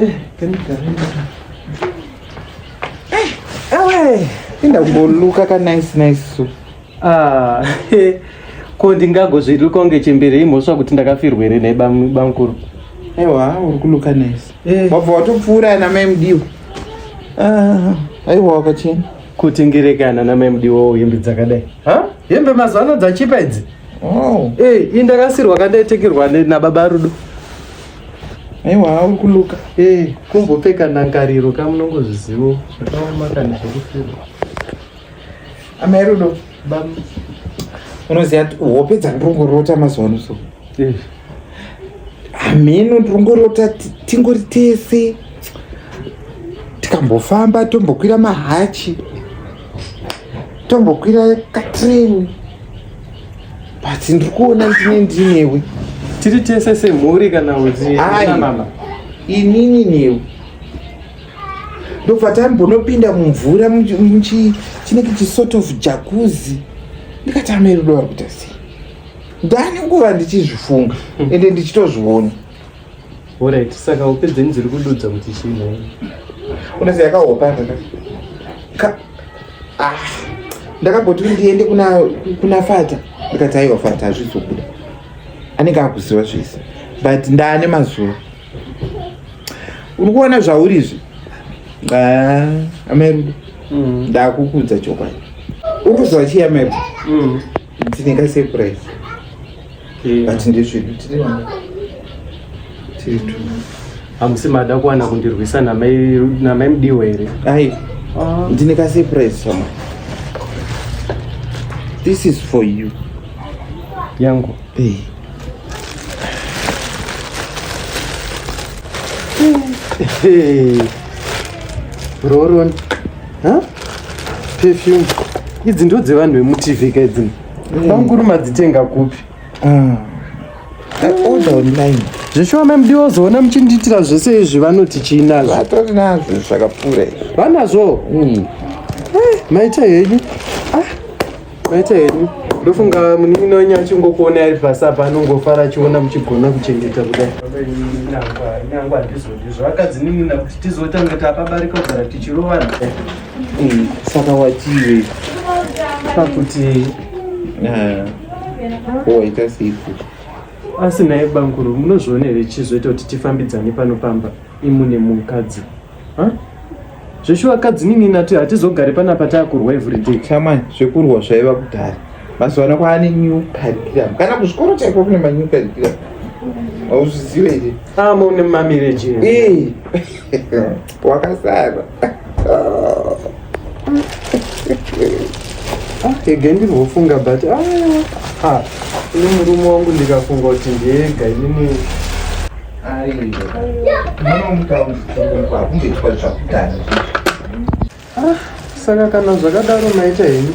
Eh, eh, inda kumboluka ka nice nice so ah, ko ndingagozviluka kunge chembere imhosva kuti ndakafirwa here nhai bamkuru aiwa uri kuluka nice eh. wabva watopfuura ana mai mudiwa ah, aiwa wakachena kutengerekana na mai mudiwawo hembe dzakadai hembe mazuva ano dzachipa idzi oh. eh, indakasirwa kandaitekirwa nababa rudo aiwa kuluka hey, eh, kumbopfeka ndangariro ka munongozvizivo zvakaoma kana zvekufira amai rudo bam unoziva kuti hope dzandongorota mazuva ano so eh. hameno ndongorota tingori tese tikambofamba tombokwira mahachi tombokwira katreni but ndiri kuona ndine ndinewe tiri tese semhuri kana uziamama inini newe ndobva tambonopinda mumvura muchinenge chisort of jakuzi ndikatama irudo vari kuita sei ndane nguva ndichizvifunga ende ndichitozviona Alright, saka hope dzenyu dziri kududza kuti chii nhai? Unase yakahopa kaka. Ka ah ndakamboti ndiende kuna kuna fata ndikati aiwa fata hazvizobuda anenge akuziva zvese but ndaane mazuva uri kuona zvauri izvi ah, amairudo mm. ndakukudza chokwadi uri kuziva chii amairudo mm. Ndine ka surprise. But ndezvedu tiri vana. Tiri tu. Hamusi mada kuwana kundirwisa namai namai mudiwa here? Ai. Ah. Ndine ka surprise shamwari. This is for you. Yangu. Eh. Hey. Hey. Roron. perfume idzi ndo dzevanhu vemutv ka idzino mm. bamukuru madzitenga kupi ah. zveshuwa mamdi wazoona muchindiitira zvese izvi vanoti chiinazvoatoriinazvo zvakapfuura izvi vanazvo mm. eh, maita henyu ah. Maita henyu ndofunga munin'ina wenyu achingokuona ari pasi apa anongofara achiona muchigona kuchengeta kudai nyangwa handizodizvo akadzinin'ina kuti tizotanga tapabarika kugara tichirovana hmm, saka wachive pakuti eh, waita siku asi naye banguru munozviona here chizoita kuti tifambidzane pano pamba imune mukadzi huh? zveshuwa kadzinini nati hatizogari panapa taakurwa everyday chamai zvekurwa zvaiva kudhara mazuva ano kwaane new curriculum kana kuzvikoro chaiko kune manew curriculum hauzvizive iri amone ah, mamireji eh. wakasara ege ah, ndirwofunga but ah, ini murume wangu ndikafunga kuti ndiega inini Ah, saka kana zvakadaro maita henyu